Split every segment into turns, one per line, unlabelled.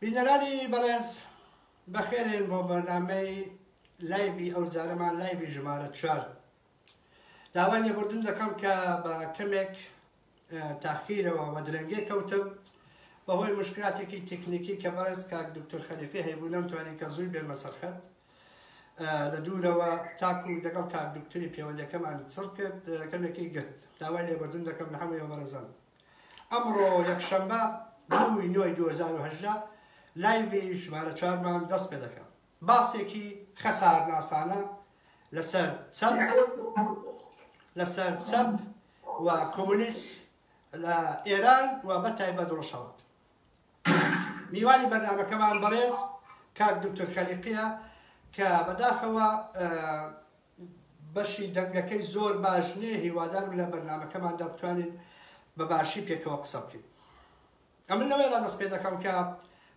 بینەرانی بەڕێز بەخێرێن بۆ بەردامەی لایبی ئەو جارەمان لایبی ژمارە چوار داوای لێبوردن دەکەم کە بە کەمێک تاخیرەوە وە درەنگێ کەوتم بەهۆی مشکلاتێکی تکنیکی کە بەڕێز کاک دکتۆر خەلیقی هەیبوو نەمتوانی کە زووی بێمە سەرخەت لە دوورەوە تاکو دەگەڵ کاک دکتری پێوەندەکەمان چڕ کرد کەمێکی گرت داوای لێبردن دەکەم لە هەمووی بەڕێزم ئەمڕۆ یەکشەمبە دووی نۆی 2010 لایوی ژمارە چارمان دەست پێ دەکەم باسێکی خەسارناسانە لەسەر چەپ لەسەر چەپ و کۆمۆنیست لە ئێران و بە تایبەت ڕۆژهەڵات میوانی بەرنامەکەمان بەڕێز کاک دکتۆر خەلیقیە کە بەداخەوە بەشی دەنگەکەی زۆر باش نیە هیوادارم لە بەرنمەکەماندا بتوانین بە باشی پێکەوە قسە بکەین ئەمن لەوەیدا دەست پێ دەکەم کە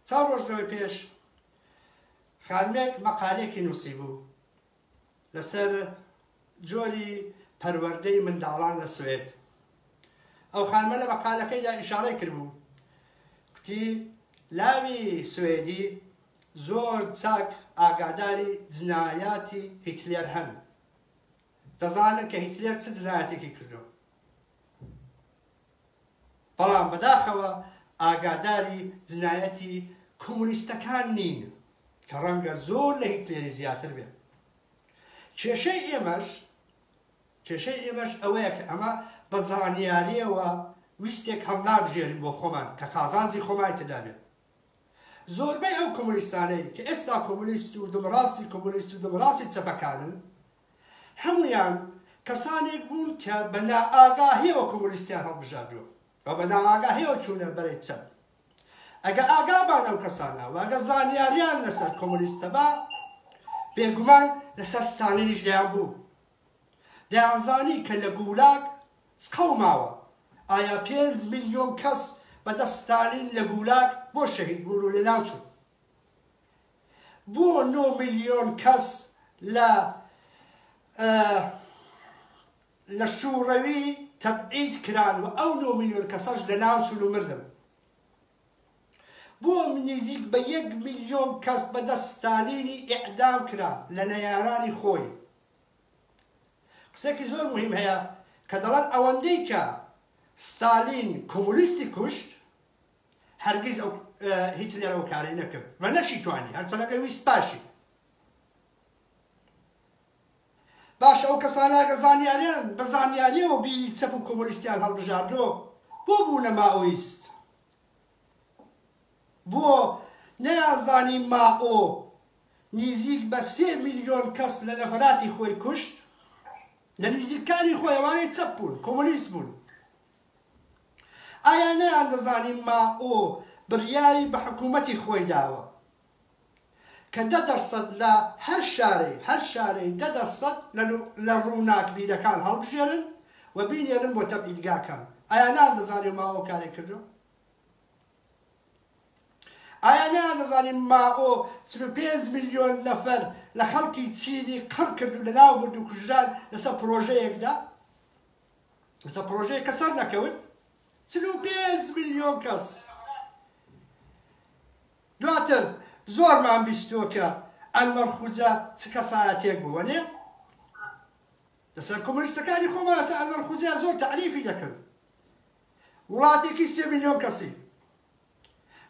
چا ڕۆژ لەوەی پێش خانمێک مەقالێکی نووسی بوو لەسەر جۆری پەروەردەی منداڵان لە سوئێد ئەو خانمە لە مەقالەکەیدا ئیشارەی کردبوو کوتی لاوی سوئێدی زۆر چاک ئاگاداری جنایاتی هیتلێر هەن دەزانن کە هیتلێر چ جنایاتێکی کردو بەڵام بەداخەوە ئاگاداری جنایەتی کۆمۆنیستەکان نین کە ڕەنگە زۆر لە هیتلێری زیاتر بێ. کێشەی ئێمەش کێشەی ئێمەش ئەوەیە کە ئەمە بە زانیاریەوە ویستێک هەڵنابژێرین بۆ خۆمان کە قازانجی خۆمای تێدا بێت. زۆربەی ئەو کۆمۆنیستانەی کە ئێستا کۆمۆنیست و دمڕاستی کۆمۆنیست و دمڕاستی چەپەکانن هەموویان کەسانێک بوون کە بە نائاگاهیەوە کۆمۆنیستیان هەڵبژاردووە و بە نائاگاهیەوە چوونە بەرەی چەپ. ئەگە ئاگابان ئەو کەسانە و ئەگە زانیاریان لەسەر کۆمۆنیست هەبا، بێگومان لەسەر ستالینیش دەیانبوو. دەیانزانی کە لە گولاگ چقەو ماوە. ئایا پێنج ملیۆن کەس بەدەست ستالین لە گولاگ بۆ شەهید بوون و لەناوچوون؟ بۆ نۆ ملیۆن کەس لە لە شووڕەوی تەبعید کران و ئەو نۆ ملیۆن کەسەش لە ناو چون و مردن بۆ نزیک بە یەک ملیۆن کەس بەدەست ستالینی ئیعدام کرا لە نەیارانی خۆی قسێکی زۆر مهم هەیە کە دەڵێن ئەوەندەی کە ستالین کۆمونیستی کوشت هەرگیز ئەو هیتلەر ئەو کارەی نەکرد و نەشی توانی هەرچەنە دەویست باشی باش ئەو کەساناگە زانیاریان بە زانیاریەوە بیری چەپ و کۆمۆنیستیان هەڵبژاردۆ بۆ بوونە ماۆیست بۆ نەیانزانی ماۆ نیزیک بە سێ میلیۆن کەس لە نەفراتی خۆی کوشت لە نیزیکانی خۆیوانەی چەپ بوون کۆمۆنیست بوون ئایا نەیان دەزانی مائۆ بڕیاری بە حکوومەتی خۆی داوە کە دە دەرسەد لە هەر شارەی هەر شارەی دە دەرسەد لە ڕووناکبیرەکان هەڵبژێرن و بینێرن بۆ تەبعیدگاکان ئایا نەیان دەزانی مائۆ کارێک کردوە؟ ئایا نەیان دەزانی مائۆ چل و پێنج ملیۆن نەفەر لە خەڵکی چینی قڕ کرد و لەناو برد و کوژران لەسەر پڕۆژەیەکدا؟ کەسە پرۆژەیە کە سەر نەکەوت چل و پێنج ملیۆن کەس دواتر زۆرمان بیستوە کە ئەلمەرخوجە چ کەسایەتێک بووە نێ لەسەر کۆمۆنیستەکانی خۆمان ئەسە ئەلمەرخوجە زۆر تەعریفی دەکرد وڵاتێکی سێ ملیۆن کەسی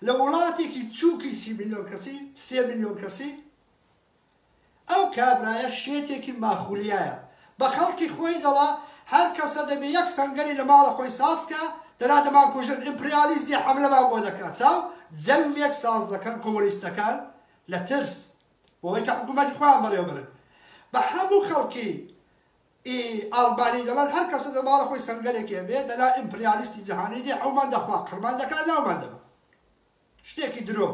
لە وڵاتێکی چووکی سی ملیۆن کەسی سێ ملیۆن کەسی ئەو کابرایە شێتێکی ماخولیایە بە خەڵکی خۆی دەڵا هەر کەسە دەبێ یەک سەنگەری لە ماڵە خۆی ساز کا دەنا دەمانکوژن ئیمپریالیست دێ حەملەمان بۆ دەکا چاو جەنگێک ساز دەکەن کۆمۆنیستەکان لە ترس بۆوەی کە حکومەتی خۆیان بەڕێوە بەرن بە حەموو خەڵکی ئی ئاڵبانی دەڵان هەر کەسە دە ماڵە خۆی سەنگەرێکێ بێ دەنا ئیمپریالیستی جەهانی دێ ئەومان دەخوا قڕمان دەکا ناومان دەبا شتێکی درۆ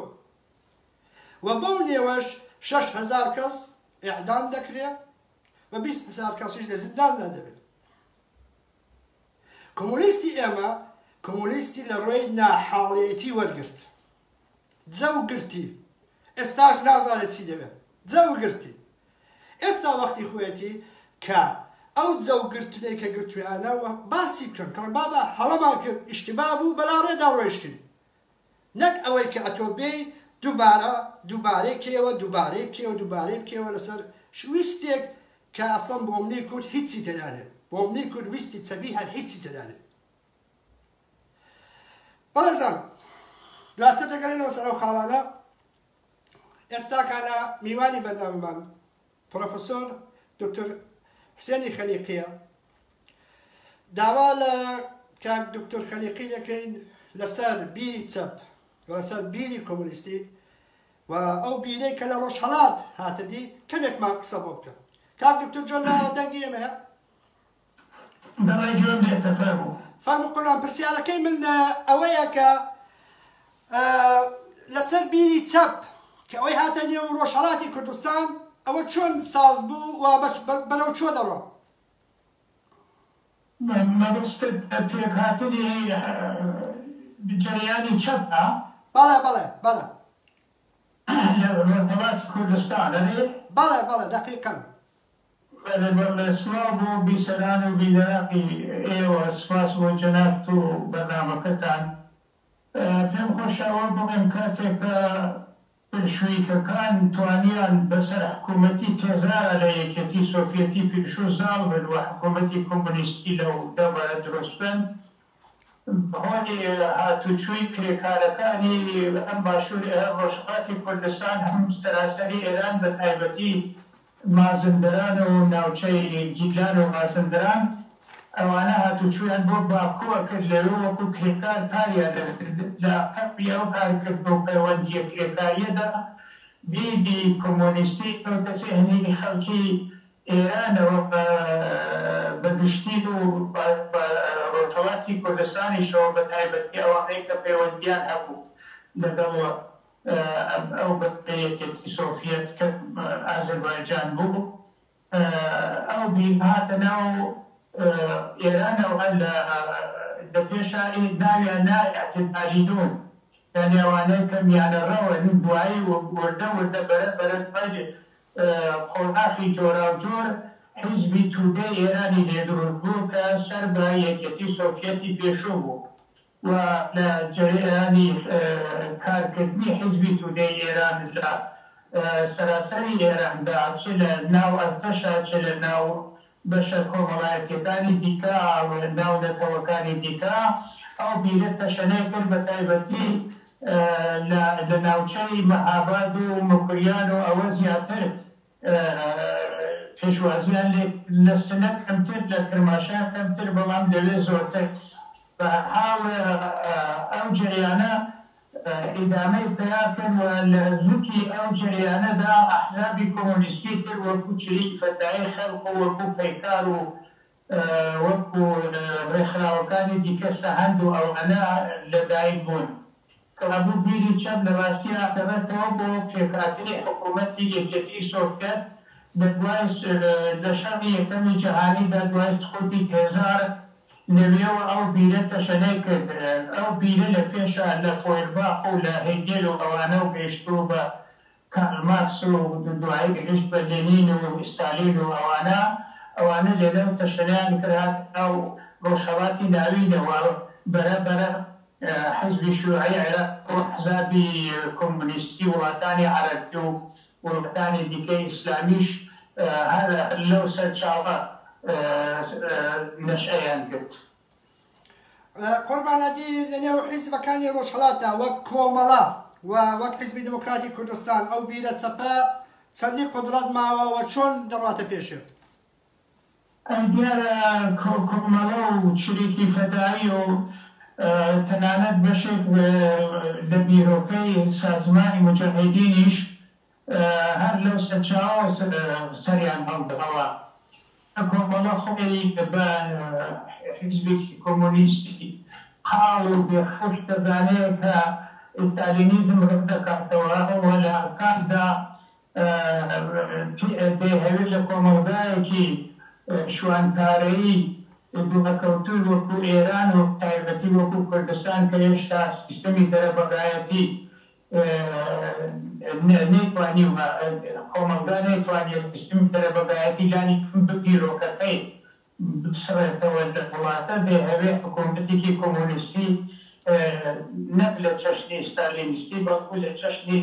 و بەو نێوەش شەش هەزار کەس ئێعدام دەکرێ و بیست هەزار کەسیش لە زینداندا دەبێت کۆمۆنیستی ئێمە کۆمۆنیستی لە ڕێی ناحاڵێتی وەرگرت جەو گرتی ئێستاش نازانێت چی دەوێت جەو گرتی ئێستا وەختی خوێتی کە ئەو جەوگرتنێک کە گرتویانە باسی بکەن کەڵ بابا هەڵەمان کرد ئیشتبا بوو بەلا ڕێدا ڕۆیشتین نەک ئەوەی کە ئەتۆ بێی دووبارە دووبارەی کەیەوە دووبارەی بکەیەوە دووبارەی بکەیەوە لەسەر ویستێک کە ئەسڵەن بۆمنی کورد هیچی تێدا نێت بۆمنی کورد ویستی چەبی هەر هیچی تێدا نێت بەڕێزان دواتر دەگەلێنەوە سەر ئەو خاڵانە ئێستاکانە میوانی بەردەممان پرۆفسۆر دکتر حسێنی خەلیقیە، داوا لە کاک دکتر خەلیقی دەکەین لەسەر بیری چەپ و لەسەر بیری کۆمۆنیستی و ئەو بیرەی کە لە ڕۆژهەڵات هاتە دی کەمێکمان قسە بۆ بکە. کاک دکتر جۆن لە دەنگی ئێمەیە.
دەڵێی گوێم لێ تەپە بوو. فەرموو قوربان
پرسیارەکەی من ئەوەیە کە لەسەر بیری چەپ کە ئەوەی هاتە نێو ڕۆژهەڵاتی کوردستان ئەوە چۆن ساز بوو و بەرەو چۆ دەڕۆ؟
مەبەستت پێکهاتنی جەریانی چەپە؟ بەڵێ بەڵێ
بەڵێ. لە
ڕۆژهەڵاتی کوردستان ئەرێ؟ بەڵێ بەڵێ دەقیقەن.
بەرێبەر لە
سڵاو بۆ بیسەران و بینەرانی ئێوە سپاس بۆ جەنابت و بەرنامەکەتان پێم خۆشە ئەوە بڵێم کاتێک کە بلشویکەکان توانیان بەسەر حکوومەتی تێزارا لە یەکێتی سۆفیەتی پیشوو زاڵ بن و حکوومەتی کۆمۆنیستی لەو دەڤەرە دروست بکەن هۆنی هاتوچووی کرێکارەکانی هەم باشوور ئه ڕۆژهەڵاتی کوردستان هەم سەراسەری ئێران بە تایبەتی مازندران و ناوچەی گیلان و مازندران ئەوانە هاتوچوویان بۆ باکو ئەکرد لەوێ وەکو کرێکار کاریان ئەکرد لە قەپی ئەو کارکردو پەیوەندییە کرێکارییەدا دیدی کۆمۆنیستی کەوتە زێهنی خەڵکی ئێرانەوە بە گشتی و بە ڕۆژهەڵاتی کوردستانیشەوە بە تایبەتی ئەوانەی کە پەیوەندییان هەبوو لەگەڵ ئەو بەشەی یەکێتی سۆفیەت کە ئازەربایجان بوو ئەو بیر هاتە ناو ئێرانەوە لە دە پێشا ناویان نایە کە دالیلون یانی ئەوانەی کە میانەڕەون دوایی وردە وردە بەرە بەرە دوای قۆناخی جۆراوجۆر حیزبی تودەی ئێرانی لێ دروست بوو کە سەر بە یەکێتی سۆفیەتی پێشوو بوو و لە جەرەیانی کارکردنی حیزبی تودەی ئێران لە سەراسەری ئێراندا چ لە ناو ئەرتەشە چ لە ناو بەشە کۆمەڵایەتیەکانی دیکە و ناو نەتەوەکانی دیکە، ئەو بیرە تەشەنەی کرد بە تایبەتی لە ناوچەی مەهاباد و موکریان و ئەوە زیاتر پێشوازیان لێ لە سنە کەمتر لە کرماشان کەمتر بەڵام لەوێ زۆرتر بە هەر حاڵ ئەو جەریانە ئیدامەی پیا کرد و لە زوتی ئەو جەریانەدا ئەحزابی کۆمۆنیستی تر وەکو چریکی فەتاحی خەلق و وەکو پەیکار و وەکو رێکخراوەکانی دیکە سەهەند و ئەوانە لە دایک بوون. کابو بیری چەپ لە راستی ئاخێڕێتەوە بۆ پێکهاتنی حکوومەتی یەکێتیی سۆڤیەت لە دوای لە شەڕی یەکەمی جەهانیدا دوای سقووتی تێزار لەوێوە ئەو بیرە تەشەنەی کرد. ئەو بیرە لە پێشا لە فۆیرباخ و لە هێگێل و ئەوانە و گەیشتووە بە کارل مارکس و دوایی گەیشت بە لێنین و ئیستالین و ئەوانە. ئەوانە لێرە و تەشەنەیان کرد هاتنە ناو ڕۆژهەڵاتی ناوینەوە بەرە بەرە. حیزبی شیوعی عێراق و ئەحزابی کۆمۆنیستی وڵاتانی عەرەبی و وڵاتانی دیکەی ئیسلامیش هەر لەو سەرچاوە نەشئەیان گرت. قوربان
ئەدی لە نێو حیزبەکانی ڕۆژهەڵاتدا وەک کۆمەڵە و وەک حیزبی دێمۆکراتی کوردستان ئەو بیرە چەپە چەندی قودڕەت ماوە و چۆن دەڕواتە پێشێ؟ ئەی دیارە
کۆکۆمەڵە و چریکی فەدایی و تەنانەت بەشێک لە بیرۆکەی سازمانی موجاهیدینیش هەر لەو سەرچاوەوە سەریان هەڵداوە کە کۆمەڵە خۆی بە حیزبێکی کۆمۆنیستی قاڵ و بێ حەوش دەزانێ کە ئیستالینیزم ڕەتدەکاتەوە و لە ئەنفالدا دەیهەوێت لە کۆمەڵگایەکی شوانپارەیی دواکەوتووی وەکو ئێران و بەتایبەتی وەکو کوردستان کە هێشتا سیستەمی دەرەبەگایەتی نەیتوانیوە کۆمەڵگا نەیتوانیە سیستمی دەرەبەگایەتی لانی کەم بگیرۆکەکەی بچڕێتەوە لە وڵاتە بێ هەوێ حکوومەتێکی کۆمۆنیستی نەک لە چەشنی ستالینیستی بەڵکوو لە چەشنی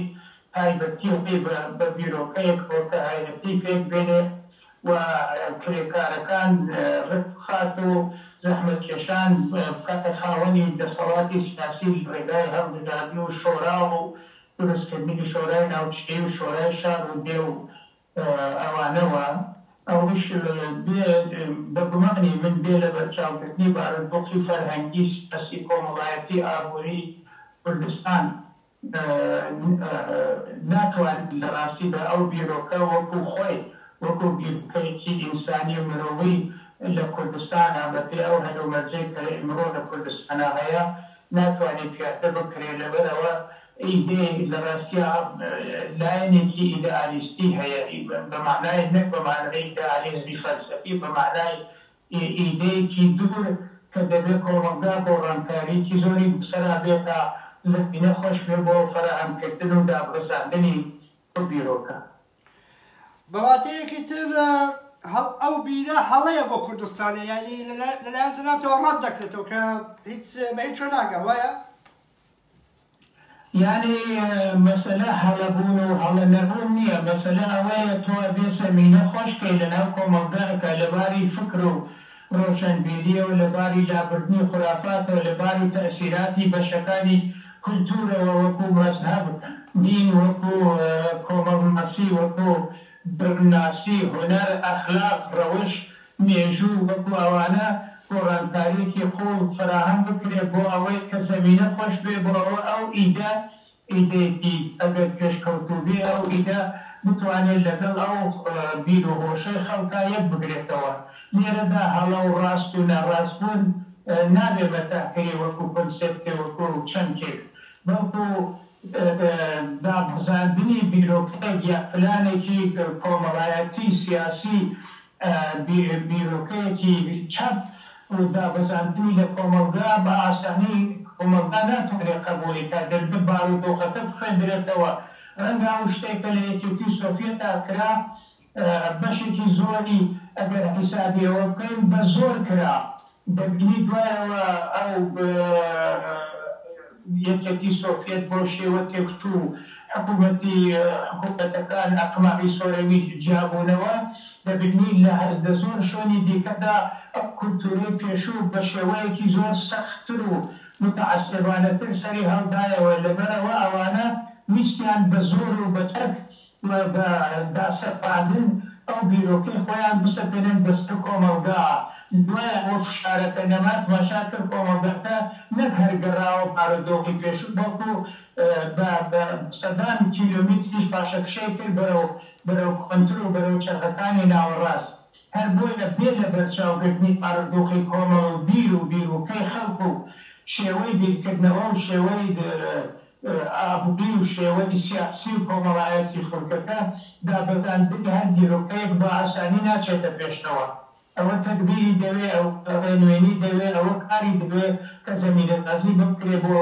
تایبەتییەکەی بە بە بیرۆکەیەک بۆرکەهایەتی پێک بێنێ و کرێکارەکان ڕێک بخات و زەحمەتکێشان بکاتە خاوەنی دەسەڵاتی سیاسی لە ڕێگای هەڵبژاردن و شۆرا و دروستکردنی شۆرای ناوچەیی و شۆرای شار و دێ و ئەوانەوە ئەوەش بێ بە گومانی من بێ لە بەرچاوگرتنی بارودۆخی فەرهەنگی، سیاسی، کۆمەڵایەتی، ئابووری کوردستان ناتوانێت لە ڕاستیدا ئەو بیرۆکە وەکوو خۆی وەکوو بیرۆکەیەکی ئینسانی و مرۆیی لە کوردستانا بە پێی ئەو هەلومەرجەی کە ئیمڕۆ لە کوردستانا هەیە ناتوانێ پیادە بکرێ لەبەرئەوە ئیدێ لە ڕاستیا لایەنێکی ئیدەئالیستی هەیە بە مەعنای نەک بە مەعنای ئیدەئالیزمی فەلسەفی بە مەعنای ئیدێیەکی دوور کە دەبێ کۆمەڵگا گۆڕانکارییەکی زۆری بەسەرا بێ تا زەمینە خۆش بێ بۆ فەراهەمکردن و دابڕزاندنی ئەو بیرۆکە. بە واتەیەکی
تر ئەو بیرە هەڵەیە بۆ کوردستانە یعنی لەلایەن جەنابتەوە ڕەت دەکرێتەوە کە هیچ بە هیچ شوێ ناگا وایە؟
یعنی مەسەلە هەڵەبوون و هەڵە نەبوون نییە، مەسەلە ئەوەیە تۆ ئەبێ زەمینە خۆش کەی لەناو کۆمەڵگا کە لەباری فکر و ڕۆشنبیرییەوە، لە باری لابردنی خورافاتەوە، لە باری تەئسیراتی بەشەکانی کولتوورەوە وەکوو مەزهەب، دین، وەکوو کۆمەڵناسی، وەکوو دەروونناسی، هونەر، ئەخلاق، ڕەوش، مێژوو، وەکوو ئەوانە گۆڕانکارییەکی قووڵ فەراهەم بکرێ بۆ ئەوەی کە زەمینە خۆش بێ بۆ ئەوە ئەو ئیدە ئیدێکی ئەگەر پێشکەوتووبێ ئەو ئیدە بتوانێ لەگەڵ ئەو بیرو هۆشەی خەڵکا یەک بگرێتەوە. لێرەدا هەڵە و ڕاست و ناڕاست بوون نابێ مەتاح کرێ وەکو کۆنسێپتێ وەکو چەمکێک بەڵکو دابەزاندنی بیرۆکەیەک یا پلانێکی کۆمەڵایەتی سیاسی بیرۆکەیەکی چەپ و دابەزاندنی لە کۆمەڵگا بە ئاسانی کۆمەڵگا ناتوانێت قەبووڵی کات دەبێت بارودۆخەکە بخوێندرێتەوە ڕەنگە ئەو شتەی کە لە یەکێتی و سۆفیەتا کرا بەشێکی زۆری ئەگەر حیسابی ئەوە بکەین بە زۆر کرا بەگوێی دوایەوە ئەو یەکێتی سۆفیەت بۆ شێوە تێکچوو و حکوومەتی حکوومەتەکان ئەقماعی سۆرەوی جیابوونەوە، دەبینین لە لە زۆر شوێنی دیکەدا ئەو کولتوورەی پێشوو بە شێوەیەکی زۆر سەختتر و موتەعەسێبانەتر سەری هەڵدایەوە، لەبەرئەوە ئەوانە ویستیان بە زۆر و بە چەک و بە داسەپاندن ئەو بیرۆکەی خۆیان بسەپێنن دەست بە کۆمەڵگا، دوایە ئەو فشارەکە نەما تماشا کرد کۆمەڵگاکە نەک هەر گەڕاوە بارودۆخی پێشوو بەڵکوو بە سەدان کیلۆمیتریش پاشەکشەی کرد بەرەو بەرەو کۆنتر و بەرەو چەرخەکانی ناوەڕاست هەر بۆیە بێ لەبەرچاوگرتنی ئارەزووخی کۆمەڵ و بیر و بیروکەی خەڵک و شێوەی بیرکردنەوە و شێوەی ئابڕووی و شێوەی سیاسی و کۆمەڵایەتی خەڵکەکە، دابەزاندنی هەر بیروکەیەک بە ئاسانی ناچێتە پێشەوە. ئەوە تەگبیری دەوێ، ئەوە ڕێنوێنی دەوێ، ئەوە کاری دەوێ کە زەمینەسازی بکرێ بۆ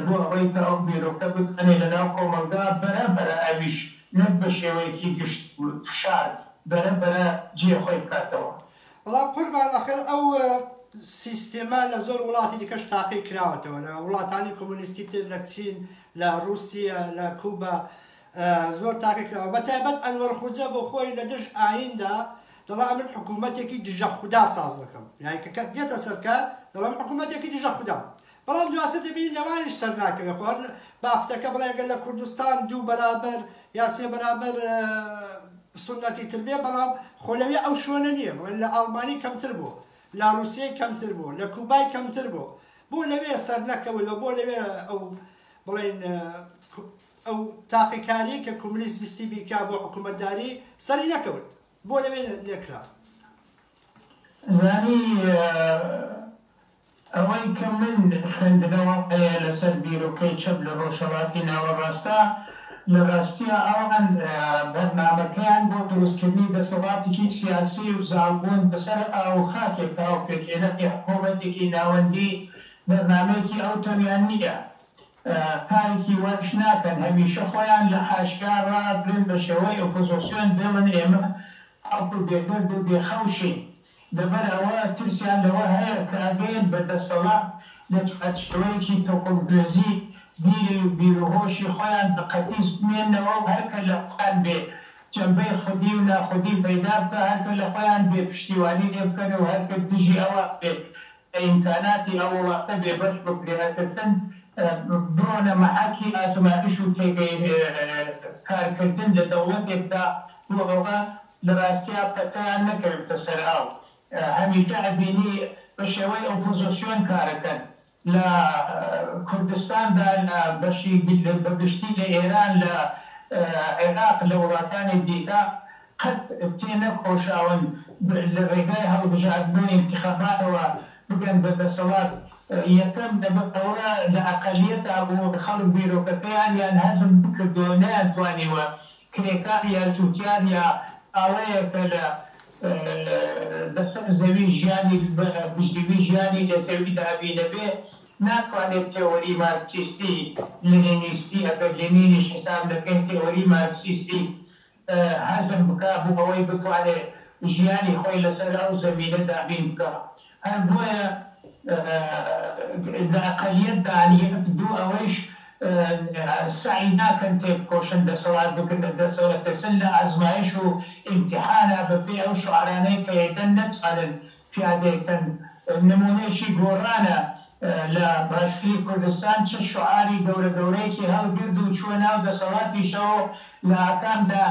بۆ ئەوەی کە ئەو بیرۆکە بکەنێ لە ناو کۆمەڵگا، بەرە بەرە ئەویش نەک بە شێوەیەکی گشتی و فشار، بەرە بەرە جێ خۆی بکاتەوە. بەڵام قوربان
ئەخر ئەو سیستێمە لە زۆر وڵاتی دیکەش تاقی کراوەتەوە، لە وڵاتانی کۆمۆنیستی تر، لە چین، لە ڕووسیە، لە کوبا زۆر تاقی کراوە. بە تایبەت ئەنوەر خوجە بۆ خۆی لە دژ ئایین دا دەڵا ئەمن حکوومەتێکی دژە خودا ساز دەکەم. یانی کە دێتە سەر کار دەڵا من حکوومەتێکی دژە خودام. بەڵام دواتر دەبینین لەوانیش سەرناکەوێت خۆ هەر بافتەکە بڵێن گەر لە کوردستان دوو بەرابەر یا سێ بەرابەر سنەتی تر بێ بەڵام خۆ لەوێ ئەو شوێنە نییە بڵێن لە ئاڵمانی کەمتر بوو لە رووسیەی کەمتر بوو لە کوبای کەمتر بوو بۆ لەوێ سەر نەکەوەوە بۆ لەوێ ئەو بڵێن ئەو تاقیکاری کە کۆملیست ویستی بیکا بۆ حکوومەتداری سەری نەکەوت بۆ لەوێ لێکرا؟
زانی ئەوەی کە من خوێندنەوە هەیە لەسەر بیرۆکەی چەپ لە ڕۆژهەڵاتی ناوەڕاستدا، لە ڕاستیا ئەوان بەرنامەکەیان بۆ دروستکردنی دەسەڵاتێکی سیاسی و زاڵبوون بەسەر ئاو و خاکێکە و پێکهێنانی حکوومەتێکی ناوەندی بەرنامەیەکی ئەو تەویان نییە. پانکی وایش ناکەن هەمیشە خۆیان لە ئاشکرا ڕابگرن بە شێوەی ئۆپۆزۆسیۆن بێڵن ئێمە تاکو بێگەرد و بێ خەوشین لەبەر ئەوە ترسیان لەوە هەیە کە ئەگەن بە دەسەڵات لە چوارچێوەیەکی تۆکڵدرێزی بیری و بیروهۆشی خۆیان بە قەتیس بمێننەوە و هەرکە لە خۆیان بێ جەمبەی خودی و ناخودی پەیدا بکا هەرکە لە خۆیان بێ پشتیوانی لێ بکەن و هەرکە دژی ئەوان بێ ئیمکاناتی ئەو وڵاتە بێ بەش بکرێ ئەترسن بڕۆنە مەحەکی ئازمایش و تێگەی کار کردن لە دەوڵەتێکدا بۆ ئەوە لە ڕاستیا پەتیان نەکەوێتە سەر ئاو هەمیشە ئەبینی بە شێوەی ئۆپۆزۆسیۆن کارەکەن لە کوردستاندا لە بەشی بە گشتی لە ئێران لە عێراق لە وڵاتانی دیکە قەت تێنەکۆشاون لە رێگای هەڵبژاردنەوەی انتخاباتەوە بگەن بە دەسەڵات، یەکەم لەبەر ئەوە لە ئەقەلیەتا بوو خەڵک بیرۆکەکەیان یان هەزم نەکردوە و نەیانتوانیوە کرێکار یا جوتیار یا ماوەیە کە لە بەسەر زەوی ژیانی بە بژیوی ژیانی لە زەوی دابی نەبێ ناتوانێت تێۆری مارکسیستی لنینیستی ئەگەر لنینیش حساب نەکەین تێۆری مارکسیستی هەزم بکا بو ئەوەی بتوانێ ژیانی خۆی لەسەر ئەو زەمینە دابین بکا هەر بۆیە لە ئەقەلیەت دان یەک دوو ئەوەیش سەعی ناکەن تێبکۆشن دەسەڵات بگرنە دەستەوە ئەترسن لە ئازمایش و ئیمتیحانا بە پێی ئەو شعارانەی کە ئێدەن نەتوانن پیادەیەکەن نمونەیەکی گۆڕانە لە باشوری کوردستان چ شعاری گەورە گەورەیەکی هەڵگرد و چوە ناو دەسەڵاتیشەوەو لە ئاکامدا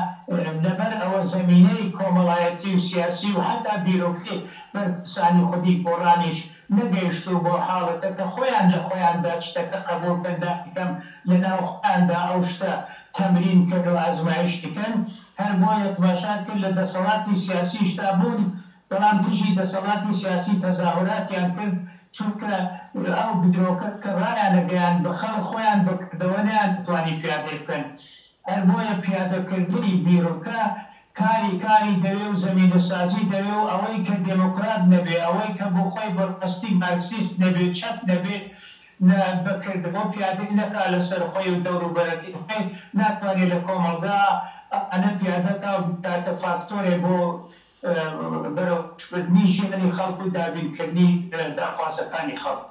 لەبەر ئەوە زەمینەی کۆمەڵایەتی و سیاسی و حەتا بیرۆکری بەرپرسانی خودی گۆڕانیش نەگەیشتوو بۆ حاڵەتە کە خۆیان لە خۆیاندا چتەکە قەبوڵ کەن دانیکەم لە ناو خۆیاندا ئەو شتە تەمرین کەن و ئەزمایشی کەن هەر بۆیە تماشات کرد لە دەسەڵاتی سیاسیشدا بوون بەڵام دژی دەسەڵاتی سیاسی تەزاهوراتیان کرد چونکە ئەو بدرۆکە کە ڕایانەگەیاند بە خەڵک خۆیان بەکردەوە نەیانتوانی پیادەی بکەن هەر بۆیە پیادەکردنی بیرۆکە کاری کاری دەوێ و زەمینە سازی دەوێ و ئەوەی کە دێمۆکڕات نەبێ ئەوەی کە بۆ خۆی بەڕاستی مارکسیست نەبێ چەپ نەبێ لە بەکردەوە پیادەی نەکا لە سەر خۆی و دەور و بەرەکەی خۆی ناتوانێ لە کۆمەڵگا ئەوانە پیادە کا و بیکاتە فاکتۆرێ بۆ بەرەو پوچکردنی ژیانی خەڵک و
دابینکردنی داخوازەکانی خەڵک.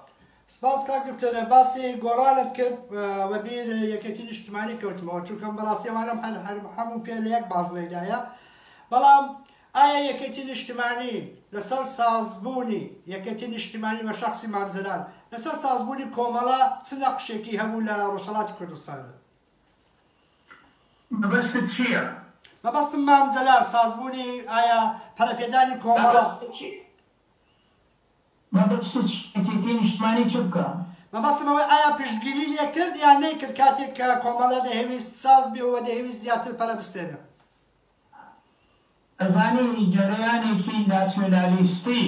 سپاس کاک دکتۆر باسی گۆڕانت کرد وە بیر یەکێتی نیشتمانی کەوتمەوە چونکەم بەڕاستی ئەوانەم هەر هەر هەموو پێ لە یەک بازنەی دایە بەڵام ئایا یەکێتی نیشتمانی لەسەر ساز بوونی یەکێتی نیشتمانی وە شەخسی مام جەلال لەسەر ساز بوونی کۆمەڵە چ نەقشێکی هەبوو لە ڕۆژهەڵاتی کوردستاندا؟ مەبەستت چییە؟
مەبەستم مام
جەلال سازبوونی ئایا پەرەپێدانی کۆمەڵە.
مەبەستت چییە یەکێتی نیشتمانی چ بکا؟ مەبەستم ئەوەی ئایا
پشتگیری لێ کرد یان نەیکرد کاتێک کە کۆمەڵە دەهەویست ساز بێ و دەیەویست زیاتر پەرە بستێنێ.
ئەزانی جەرەیانێکی ناسیونالیستی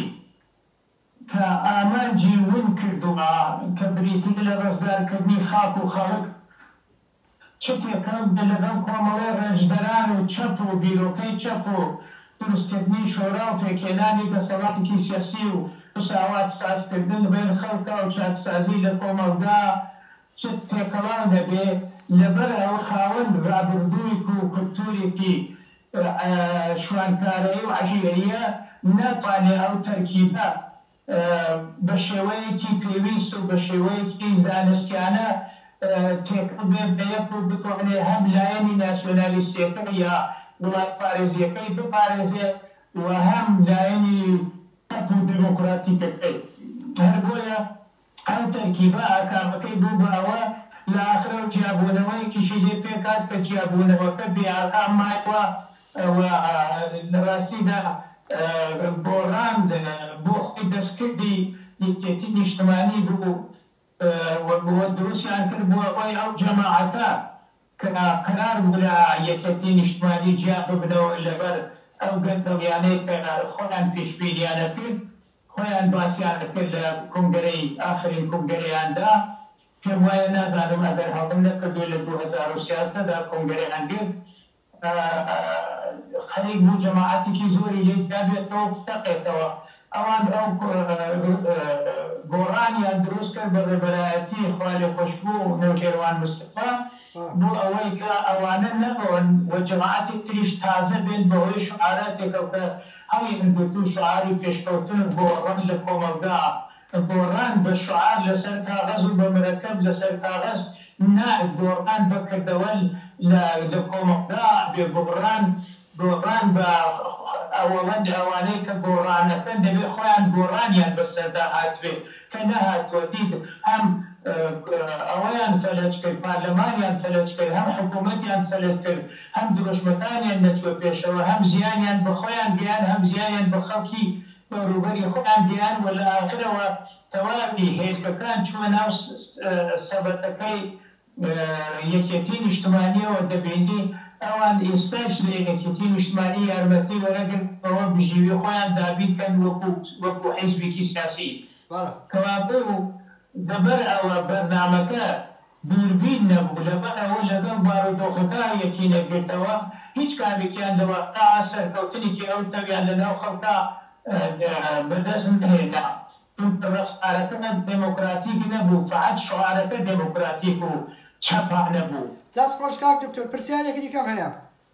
کە ئامانجی ون کردووە، کە بریتییە لە ڕزگارکردنی خاک و خەڵک، چ تێکەڵ بێت لەگەڵ کۆمەڵەی ڕێزدەران و چەپ و بیرۆکەی چەپ و دروستکردنی شۆرا و پێکهێنانی دەسەڵاتێکی سیاسی و مساوات سازکردن لە بەین خەڵکا و چاکسازی لە کۆمەڵگا چت تێکەڵاو دەبێ لەبەر ئەوە خاوەن ڕابردوویک و کولتوورێکی شوانکارەیی و عەشیرەییە ناتوانێ ئەو تەرکیبە بە شێوەیەکی پێویست و بە شێوەیەکی زانستیانە تێکەڵ بێ بە یەک و بتوانێ هەم لایەنی ناسیۆنالیستیەکەی یا وڵاتپارێزیەکەی بپارێزێ و هەم لایەنی چەپ و دێمۆکڕاتیکەکەی هەر بۆیە ئەو تەرکیبە ئاکامەکەی بوو بە ئەوە لە ئاخرا و جیابوونەوەیەکیشی لێ پێکهات کە جیابوونەوەکە بێ ئاکام مایەوە و لە ڕاستیدا گۆڕان بۆ خۆی دەستکردی یەکێتی نیشتمانی بوو و دروستیان کرد بووە هۆی ئەو جەماعەتە کە قەرار بوو لە یەکێتی نیشتمانی جیا ببنەوە لەبەر ئەو گەندەڵیانەی کە خۆیان پیشبینیانە کرد خۆیان باسیان ئەکرد لە کونگرەی ئاخرین کونگرەیاندا پێم وایە نازانم ئەگەر هەڵە نەکردووی لە دوو هەزار و سیازدە دا کونگرەیان گرت خەریک بوو جەماعەتێکی زۆری لێی جیابێتەوە و بتەقێتەوە ئەوان ئەو گۆڕانیان دروست کرد بە ڕێبەرایەتی خوالێخۆشبوو نەوشێروان مستەفا بۆ ئەوەی کە ئەوانە نەڕۆن و جەماعەتی تریش تازە بێن بەهۆی شوعاراتێکەوە کە هەڵی من گرتو شعاری پێشکەوتن بۆ ڕەنج لە کۆمەڵگا گۆڕاند بە شعار لەسەر کاغەز و بە مرەکەب لەسەر کاغەز نارد گۆڕاند بە کردەوە لە کۆمەڵگا ئەبێ گۆڕان گۆڕان بە ئەوەوەند ئەوانەی کە گۆڕان ئەکەن دەبێ خۆیان گۆڕانیان بەسەردا هاتبێ کە نەهاتووە دیت هەم ئەوەیان فەلەج کرد پارلەمانیان فەلەج کرد هەم حکوومەتیان فەلەج کرد هەم دروشمەکانیان نەچووە پێشەوە هەم زیانیان بە خۆیان گەیاند هەم زیانیان بە خەڵکی دەوروبەری خۆیان گەیاند و لە ئاخرەوە تەواوی هێلکەکان چووە ناو سەبەتەکەی یەکێتی نیشتمانیەوە دەبینی ئەوان ئێستایش لە یەکێتی نیشتمانی یارمەتی وەرەگرن بەوە بژیوی خۆیان دابین کەن وەکو حیزبیکی سیاسی کەوابوو لەبەر ئەوە بەرنامەکە دووربین نەبوو، لەبەر ئەوە لەگەڵ بارودۆخەکە یەکی نەگرتەوە، هیچ کامێکیان لە واقیع سەرکەوتنێکی ئەو تەویان لەناو خەڵکا بەدەست نەهێنا، چونکە ڕەفتارەکە دێمۆکراتیک نەبوو، فەقەت شعارەکە دێمۆکراتیک و چەپانە بوو. دەست خۆش کاک
دکتۆر پرسیارێکی دیکەم هەیە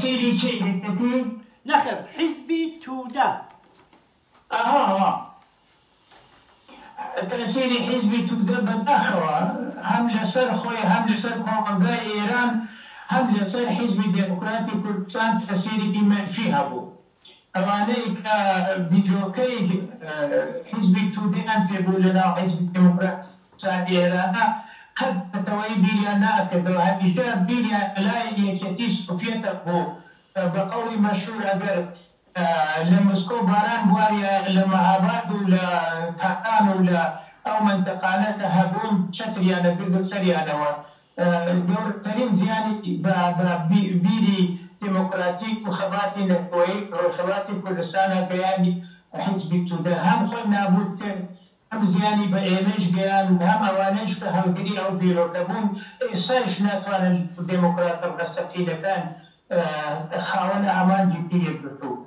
سەیری چی دەکەی؟ نەخێر
حیزبی تودە. ئەها
ها تەئسیری حیزبی تودە بەداخەوە هەم لەسەر خۆی هەم لەسەر کۆمەڵگای ئێران هەم لەسەر حیزبی دێموکراتی کوردستان تەئسیرێکی مەنفی هەبوو. ئەوانەی کە ڤیدۆکەی حیزبی تودەیان پێ بوو لە ناو حیزبی دێمۆکڕاتی ئێرانا قەت نەتەوەیی بیریان ناکردەوە هەمیشە بیریان لای یەکێتی سۆفیەتە بوو بە قەوڵی مەشهور ئەگەر لە مسکۆ باران بواریایە لە مەهاباد و لە تاران و لە ئەو مەنتەقانە کە هەبوون چەتریان ئەگرت و سەریانەوە گەورترین زیانی بە بیری دێمۆکڕاتیک و خەباتی نەتەوەیی ڕۆژهەڵاتی کوردستانا گەیاند، حیزبی تودە هەم خۆی نابوود کرد، هەم زیانی بە ئێمەیش گەیاند، هەم ئەوانەیش کە هەڵگری ئەو بیرۆکە بوون، ئێستایش ناتوانن دێمۆکڕاتە ڕاستەقینەکان خاوەن ئامانجێکی یەکگرتوو بن.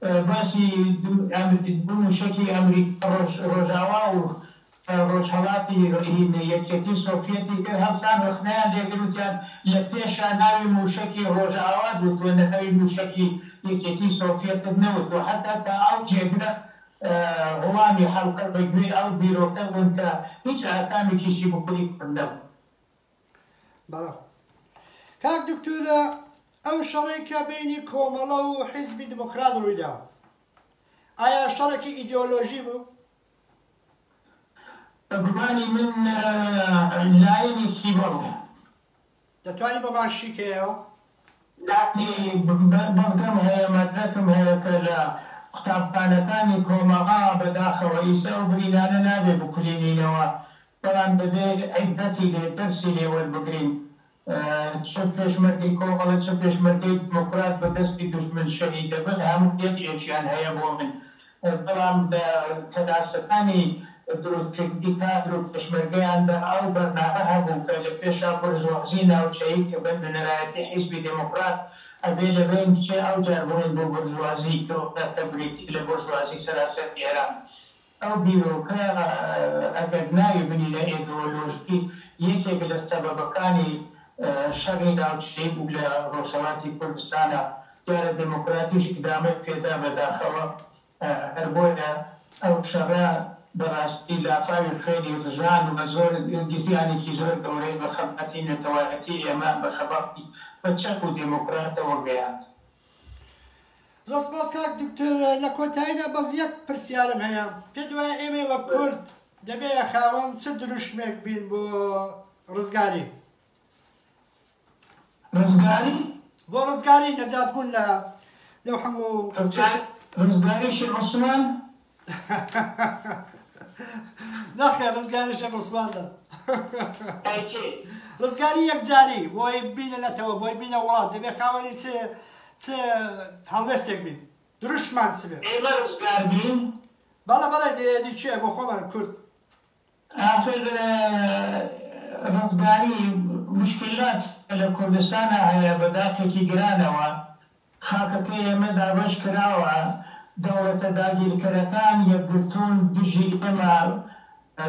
باسی ئەمریک بوون و چەکی ئەمریکا ڕۆژ ڕۆژاوا و ڕۆژهەڵاتی ڕهینە یەکیەتی سۆفیەتی کرد هەڵسان ڕەخنەیان لێ گرت وتیان لە پێشا ناوی موشەکی ڕۆژاوات وتووە ناوی موشەکی یەکیەتی سۆفیەتت نەوتووە هەتا تا ئەو جێگرە وڵامی حەلقە بە گوێی ئەو بیرۆکە بوون کە هیچ ئاکامێکیشی بۆ هیچ کام نەبوو.
بەڵام کاک دکتۆر ئەو شەڕەی کە بینی کۆمەڵە و حیزبی دموکرات ڕوویدا ئایا شەڕێکی ئیدۆلۆژی بوو؟
بەگومانی من لایەنێکی بەڵگە.
دەتوانی بۆمان شیکەیەوە؟ ناتی
بەڵگەم هەیە مەدرەکم هەیە کە لە قوتابخانەکانی کۆمەغا بەداخەوە ئیسە ئەو برینانە نابێ بکولینینەوە بەڵام دەبێت عیبرەتی لێ دەرسی لێ وەربگرین چ پێشمەرگەی کۆمەڵە چ پێشمەرگەی دیموکرات بە دەستی دوژمن شەهید دەبن هەموو یەک ئێشیان هەیە بۆ من بەڵام لە کەناسەکانی دروستکردنی کادر و پێشمەرگەیاندا ئەو بەرنامە هەبوو کە لە پێشا بورژوازی ناوچەیی کە بە نوێنەرایەتی حیزبی دێموکڕات ئەبێ لە بەین بچێ ئەوجار بڵێن بۆ بورژوازی گەورە کە بریتی لە بورژوازی سەراسەری ئێران ئەو بیرۆکە ئەگەر ناوی بنینە ئێدۆلۆژی، یەکێک لە سەبەبەکانی شەڕی ناوچەیی بوو لە ڕۆژهەڵاتی کوردستانا، دیارە دێمۆکڕاتیش ئیدامەی پێدا بەداخەوە، هەر بۆیە ئەو شەڕە بە ڕاستی لافاوی خوێنی ڕژان و زۆر زیانێکی زۆر گەورەی بە خەباتی نەتەوایەتی ئێمە، بە خەباتی بە چەپ و دێمۆکڕاتەوە گەیاند.
زۆر سپاس کاک دکتۆر لە کۆتاییدا بەس یەک پرسیارم هەیە پێت وایە ئێمەی وە کورد دەبێ خاوەن چ دروشمێک بین بۆ ڕزگاری
ڕزگاری بۆ
ڕزگاری نەجات بوون لە لەو هەموو ڕزگاری
شێخ عوسمان
ناخێ ڕزگاری شەق عوسمانە ڕزگاری یەکجاری بۆی بینە نەتەوە بۆی بینە وڵات دەبێ خاوەنی چ چ هەڵوێستێک بین دروشمان چ بێ ئێمە ڕزگار بین
بەڵە بەڵێ
دێدی چێ بۆ خۆمان کورد
ئاخر ڕزگاری موشکیلات کە لە کوردستانا هەیە بە داخێکی گرانەوە خاکەکەی ئێمە دابەش کراوە، دەوڵەتە داگیرکەرەکان یەکگرتوون دژی ئێمە،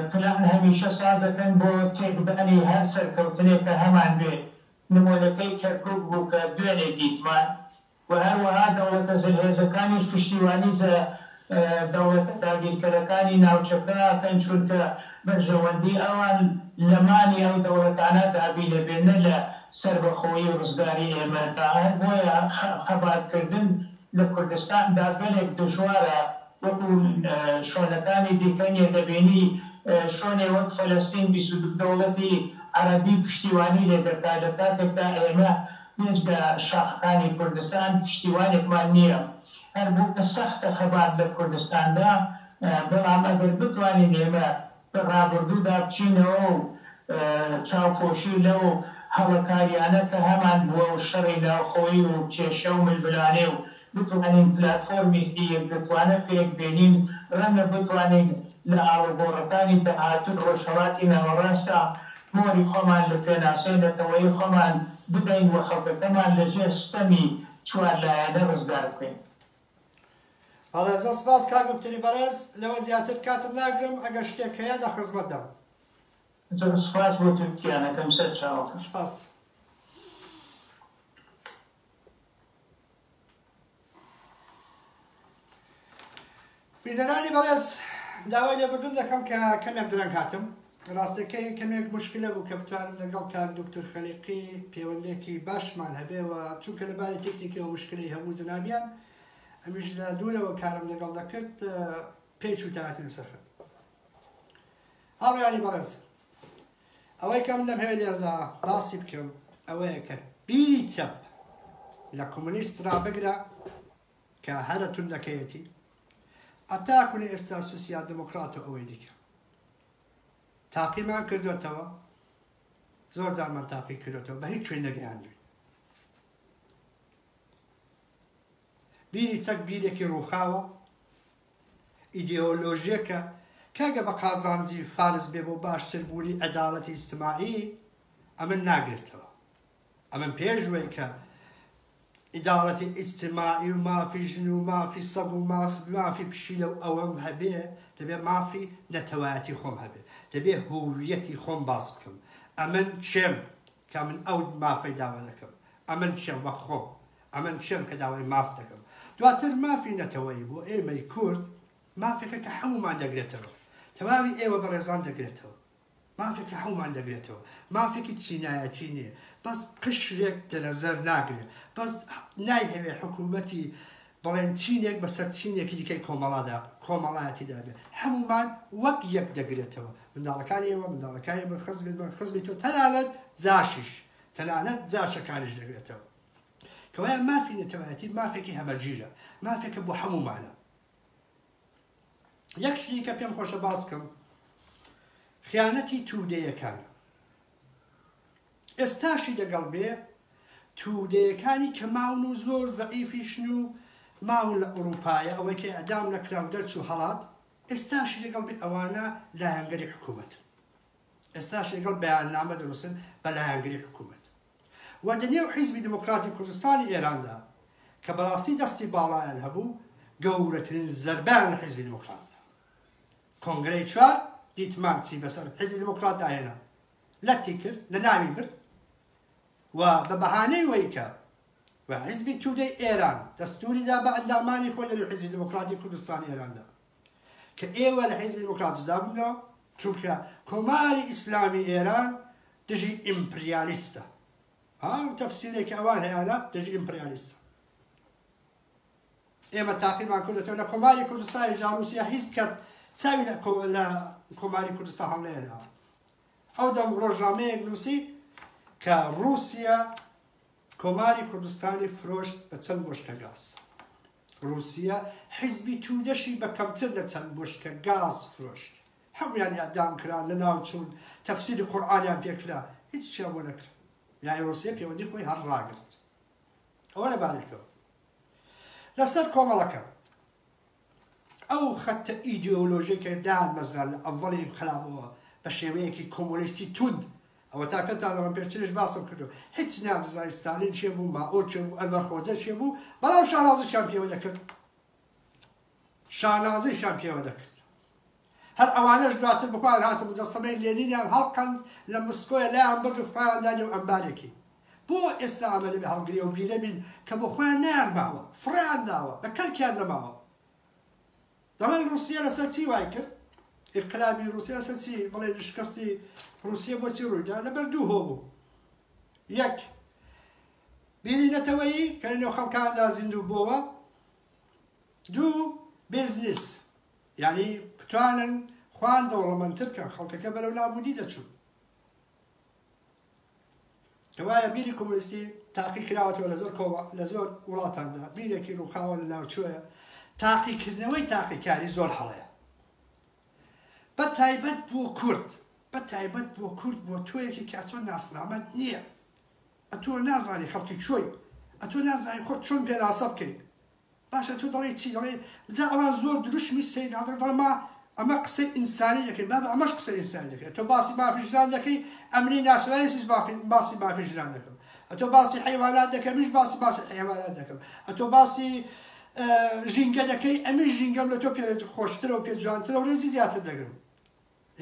پلان هەمیشە سازەکەن بۆ تێکدانی هەر سەرکەوتنێک کە هەمانبێ، نموونەکەی کەرکوک بوو کە دوێنێ دیتمان. و هەروەها دەوڵەتە زلهێزەکانیش پشتیوانی زە دەوڵەتە داگیرکەرەکانی ناوچەکە ئەکەن، چونکە بەرژەوەندی ئەوان لە مانی ئەو دەوڵەتانە دابینە بێ نە لە سەربەخۆیی و ڕزگاری ئێمە دا، هەر بۆیە خەبات کردن لە کوردستان دا گەلێک دژوارە، وەکو شۆنەکانی دیکە نیە، دەبینی شۆنێ وەک فەلەستین بیست و دوو دەوڵەتی عەرەبی پشتیوانی لێ دەکا لە کاتێکدا ئێمە. هیچ لە شاخەکانی کوردستان پشتیوانێکمان نییە، هەربۆیە سەختە خەبات لە کوردستاندا، بەڵام ئەگەر بتوانین ئێمە بە ڕابڕدوودا بچینەوە و چاوپۆشی لەو هەڵە کارییانە کە هەمانبووە و شەڕی ناوخۆیی و کێشە و ململانێ و بتوانین پلاتفۆرمێکی یەکگرتووانە پێک بێنین، ڕەنگە بتوانین لە ئاڵوگۆڕەکانی داهاتووی ڕۆژهەڵاتی ناوەڕاستدا مۆری خۆمان لە پێناسەی نەتەوەیی خۆمان بدەین و خەڵکەکەمان لە ژێر ستەمی چوار لایەنە ڕزگار بکەین.
بەڵێ، زۆر سپاس کاک دوکتوری بەڕێز، لەوە زیاتر کاتت ناگرم، ئەگەر شتێک هەیە لە خزمەتدام. زۆر
سپاس بۆ تورکییانەکەم سەرچاوەکە.
سپاس. بینەرانی بەڕێز داوای لێبردن دەکەم کە کەمێک درەنگ هاتم ڕاستەکەی کەمێک مشکلە بوو کە بتوانم لەگەڵ کاک دکتر خەلیقی پەیوەندێکی باشمان هەبێەوە چونکە لە باری تەکنیکەوە مشکلی هەبوو جنابیان ئەمیش لە دوورەوە کارم لەگەڵ دەکرد پێچ و تااتن سەرخەت هاوڕیانی بەڕێز ئەوەی کە من دەمهەوێ لێرەدا باسی بکەم ئەوەیە کە بی چەپ لە کۆمۆنیست را بگرە کە هەرە توندەکەیەتی ئەتا کونی ئێستا سوسیال دموکرات و ئەوەی دیکە تاقیمان کردوێتەوە زۆر جارمان تاقی کردێتەوە بە هیچ شوێن نەگەیاندوین بیری چەک بیرێکی ڕووخاوە ئیدێئۆلۆژیەکە کە ئەگەر بە قازانجی فارس بێ بۆ باشتر بوونی عەداڵەتی ئیجتماعی ئەمن ناگرێتەوە ئەمن پێشوەی کە ئیداڵەتی ئیجتماعی و مافی ژن و مافی سەگ و مافی پشیلە و ئەوەم هەبێ دەبێ مافی نەتەوایەتی خۆم هەبێ دەبێ هوویەتی خۆم باس بکەم ئەمن چێم کە من ئەو مافەی داوا دەکەم، ئەمن کێم وەک خۆم، ئەمن کێم کە داوای ماف دەکەم. دواتر مافی نەتەوەیی بۆ ئێمەی کورد مافێکە کە هەموومان دەگرێتەوە، تەواوی ئێوە بەڕێزان دەگرێتەوە، مافێک کە هەموومان دەگرێتەوە، مافێکی چینایەتی نییە، بەس قشرێک لە نەزەر ناگرێ، بەس نایهەوێ حکوومەتی بڵێن چینێک بەسەر چینێکی دیکەی کۆمەڵادا، کۆمەڵایەتیدا بێت، هەموومان وەک یەک دەگرێتەوە، منداڵەکانی ئێوە، منداڵەکانی من، خزمی من، خزمی تۆ، تەنانەت جاشیش، تەنانەت جاشەکانیش دەگرێتەوە. کەوایە مافی نەتەوایەتی مافێکی هەمەگیرە، مافێکە بۆ هەموومانە. یەک شتی کە پێم خۆشە باس بکەم، خیانەتی تودەیەکان. ئێستاشی لەگەڵ بێ تودەیەکانی کە ماون و زۆر زەعیفیشن و ماون لە ئوڕووپایە ئەوەی کە ئێعدام نەکرا و دەرچوو هەڵات ئێستاشی لەگەڵ بێ ئەوانە لایەنگری حکوومەتن ئێستاش لەگەڵ بەیاننامە دەنووسن بە لایەنگری حکوومەت و دە نێو حیزبی دموکراتی کوردستانی ئێراندا کە بەڕاستی دەستی باڵایان هەبوو گەورەترین زەربەیان لە حیزبی دموکرات کۆنگرەی چوار دیتمان چی بەسەر حیزبی دموکراتدا هێنا لەتی کرد لە ناوی برد و بە بەهانەی وەی کە و حیزبی تودەی ئێران دەستوری دا بە ئەندامانی خۆی لە نێو حیزبی دیموکراتی کوردستانی ئێراندا کە ئێوە لە حیزبی دیموکرات جدا بوونەوە چونکە کۆماری ئیسلامی ئێران دژی ئیمپریالیستە ئەو تەفسیرێکی ئەوان هەیەە دژی ئیمپریالیستە ئێمە تاقیمان کردێتەوە لە کۆماری کوردستانی ژاروسیا هیچ کەت چاوی لە کۆماری کوردستان هەڵێنەوە ئەو دەم ڕۆژنامەیەک نووسی کە ڕووسیا کۆماری کوردستانی فرۆشت بە چەند بۆشکە گاز ڕووسیا حیزبی تودەشی بە کەمتر لە چەند بۆشکە گاز فرۆشت هەمویان ئەدام کرا لە ناوچوون تەفسیری قورآانیان پێکرا هیچ چیا بۆ نەکرا یای ڕوسیە پەیوەندی خۆی هەر ڕاگرت ئەوە لە بارێکەوە لەسەر کۆمەڵەکە ئەو خەتە ئیدێئۆلۆژیە کە دامەزرا لە ئەڤەڵی ئینقلابەوە بە شێوەیەکی کۆمۆنیستی توند، ئەوەتا پێتان دەڵێم پێشتریش باسم کردوە، هیچ ناززانی ستالین کێ بوو، مائۆ کێ بوو، ئەنوەر خۆجە کێ بوو، بەڵام شانازیشیان پێوە دەکرد. شانازیشیان پێوە دەکرد. هەر ئەوانەش دواتر بەخۆیان هاتە مجەسەمەی لێنینیان هەڵقەند لە مسکۆیە لایان برد و خویان دا نێو ئەمبارێکی. بۆ ئێستا ئەمە دەبێ هەڵگری ئەو بیرە بین کە بۆ خۆیان نەیان ماوە، فڕێیان داوە، بە کەلکیان نەماوە. دەڵێن ڕووسیە لەسەر چی وای کرد؟ ئینقلابی ڕووسیە لەسەر چی؟ بڵێن شکستی ڕووسیە بۆ چی ڕووی دا؟ لەبەر دوو هۆ بوو. یەک، بیری نەتەوەیی کە لە نێو خەڵکاندا زیندوو بۆوە. دوو، بیزنیس. یانی بتوانن خوان دەوڵەمەندتر کەن خەڵکەکە بەرەو نابودی دەچوو کەوایە بیری کۆمۆنیستی تاقی کراوەتەوە لە زۆر لە زۆر وڵاتاندا بیرێکی ڕووخاوە لە ناوچوەیە تاقیکردنەوەی تاقیکاری زۆر هەڵەیە بە تایبەت بۆ کورد بە تایبەت بۆ کورد بۆ تۆیەکی کاتۆ ناسنامەت نییە ئەتۆ نازانی خەڵکی چۆی ئەتۆ نازانی خۆت چۆن پێناسە بکەیت باشە تۆ دەڵێی چی دەڵێی جا ئەوان زۆر دروشمی سەید عبداللە دەڵێن ما ئەمە قسەی ئینسانی دەکەین بابە ئەمەش قسەی ئینسانی دەکەی تۆ باسی مافی ژنان دەکەی ئەمنی ناسیۆنالیسیش مافی باسی مافی ژنان دەکەم ئەتۆ باسی حیوانات دەکەم منیش باسی باسی حیوانات دەکەم ئەتۆ باسی ژینگە دەکەی ئەمن ژینگەم لە تۆ پێ خۆشترە و پێ جوانترە و ڕێزی زیاتر دەگرم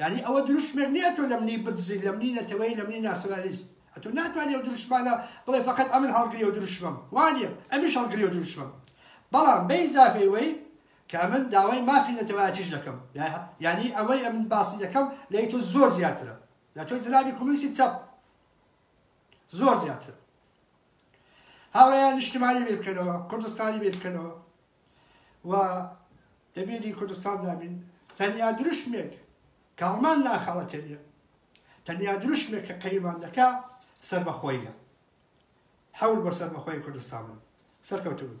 یانی ئەوە دروشمێک نیە تۆ لەمنی بدزی لەمنی نەتەوەی لەمنی ناسۆنالیست ئەتۆ ناتوانی ئەو دروشمانە بڵێ فەقەت ئەمن هەڵگریو دروشمم وانیە ئەمیش هەڵگریو دروشمم بەڵام بەیزافەی وەی کە ئەمن داوای مافی نەتەوایەتیش دەکەم یانی ئەوەی ئەمن باسی دەکەم لەی تۆ زۆر زیاترە لە تۆ جنابی کۆمونیستی چەپ زۆر زیاتر هاوڕێیان نیشتمانی بیر بکەنەوە کوردستانی بیر بکەنەوە و ئەمیری کوردستاندا بین، تەنیا دروشمێک کە هەڵمان ناخەڵەتێنێ، تەنیا دروشمێک کە قەیمان دەکا سەربەخۆییە. حەول بۆ سەربەخۆیی کوردستان بن. سەرکەوتوو بن.